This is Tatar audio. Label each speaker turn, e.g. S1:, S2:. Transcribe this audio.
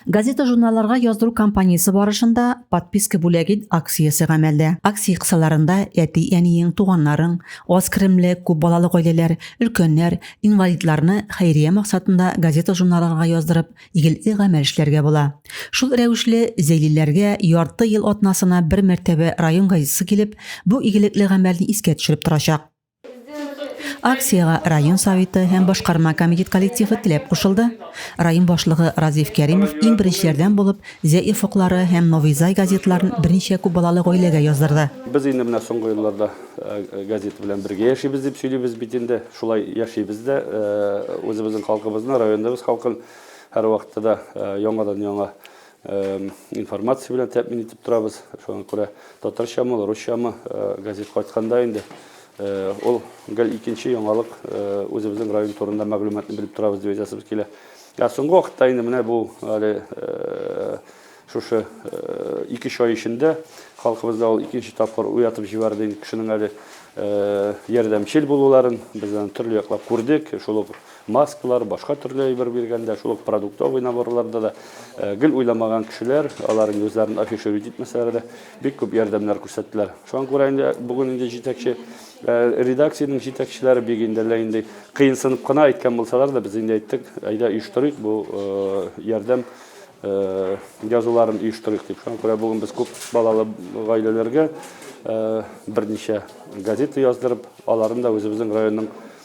S1: Газета-журналларга яздыру кампаниясе барышында подписка бүләге акциясе гамәлдә. Акция кысаларында әти-әниең, туганнарың, аз керемле, күп балалы гаиләләр, өлкәннәр, инвалидларны хәйрия максатында газета-журналларга яздырып, игелекле гамәл эшләргә була. Шул рәвешле, зәйлиләргә ярты ел атнасына бер мәртәбә район газетасы килеп, бу игелекле гамәлне искә төшереп торачак. Акциягә район Советы һәм башкарма комитет коллективы теләп кушылды. Район башлыгы Разиф Кәримов иң беренчеләрдән булып Зәй офыклары һәм Новый Зай газетларын берничә күп балалы гаиләгә яздырды. Без инде менә соңгы
S2: елларда газета белән бергә яшибез дип сөйлибез бит инде. Шулай яшибез дә. Үзебезнең халкыбызны, районыбыз халкын һәрвакытта да яңадан-яңа информация белән тәэмин итеп торабыз. Шуңа күрә татарчамы, русчамы газет кайтканда инде ул гел икенче яңалык үзебезнең район турында мәгълүматны белеп торабыз дип әйтәсебез килә. Ә соңгы вакытта инде менә бу әле шушы ике ай эчендә халкыбызда ул икенче тапкыр уятып җибәрде инде кешенең әле ярдәмчел булуларын, без аны төрле яклап күрдек, шул ук Маскалар, башка төрле әйбер биргәндә, шул ук продуктовый наборларда да гел уйламаган кешеләр, алар инде үзләрен афишировать итмәсәләр дә, бик күп ярдәмнәр күрсәттеләр. Шуңа күрә инде бүген инде җитәкче редакциянең җитәкчеләре бик инде әллә инде кыенсынып кына әйткән булсалар да, без инде әйттек, әйдә оештырыйк бу ярдәм язуларын оештырыйк дип. Шуңа күрә бүген без күп балалы гаиләләргә берничә газета яздырып, аларын да үзебезнең районның